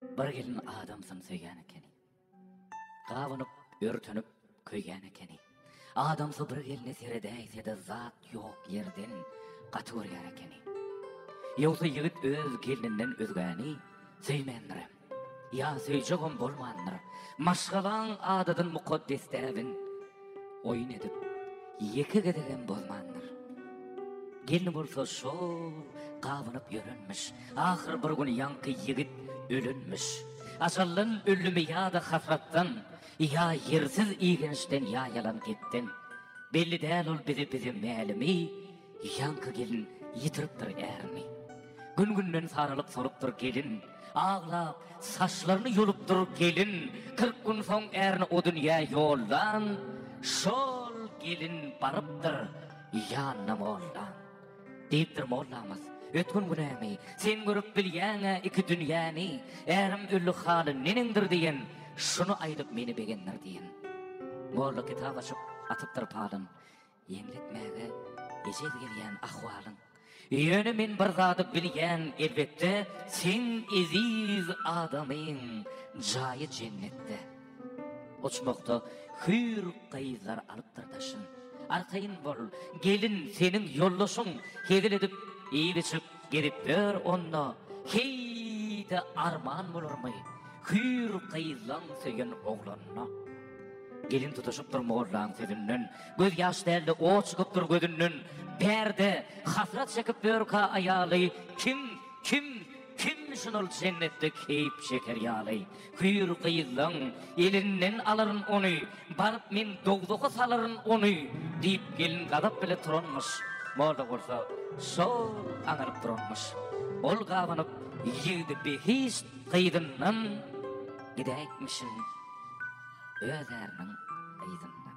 Bir gelin adamsyn söýýän ekeni. Gabynyp, örtünip, köýýän ekeni. Adamsy bir gelne seredäýse-de zat ýok ýerden gaty görýän ekeni. Ýogsa ýigit öz gelninden özgäni söýmändir. Ýa söýjegem bolmandyr. Maşgalaň adadyn mukaddes däbin. oýun edip, ýeke gezegem bozmandyr. Gelni bolsa şol gabynyp ýörenmiş. Ahyr bir gün ýaňky ýigit ölenmiş. Ajaldan ölümi ýa-da hasratdan, ýa ýersiz igençden ýa ýalan gepden. Belli däl ol bize bize mälimi. Ýaňky gelin ýitiripdir ärini. Gün-günden saralyp solupdyr gelin. Aglap, saçlaryny ýolupdyr gelin. Kyrk gün soň ärini o dünýä ýollan. Şol gelin barypdyr ýanyna mollan. Diýipdir mollamyz, Ötgün günämi, sen görüp bilýäň-ä iki dünýäni. Ärim öldi haly neneňdir diýen, şuny aýdyp meni begendir diýen. Molla kitap açyp, atypdyr palyn. Ýeňletmäge ejel gelýän ahwalyň. Ýöne men bir zady bilýän elbetde, Seň eziz adamyň jaýy jennetde. Uçmakda hüýr gyzlar alypdyr daşyn. Arkaýyn bol, gelin, seniň ýoldaşyň, Hezil edip, iýip-içip, gezip ýör onda. Heý-de arman bolarmy, hüýr gyzlaň söýen oglanyna? Gelin tutaşypdyr mollaň sözünden, Göz ýaş dälde ot çykyp dur gözünden Perde hasrat çekip börka aýaly Kim kim kimmişin ol jennetde keýp çeker ýaly Hüýr gyzlaň elinden alaryn ony Baryp men dowzaha salaryn ony Diýip gelin gazap bile turanmyş Moda bolsa şol aňaryp duranmyş Ol gabanyp ýigdi behişt gyzyndan Gidäýipmişin öz äriniň yzyndan.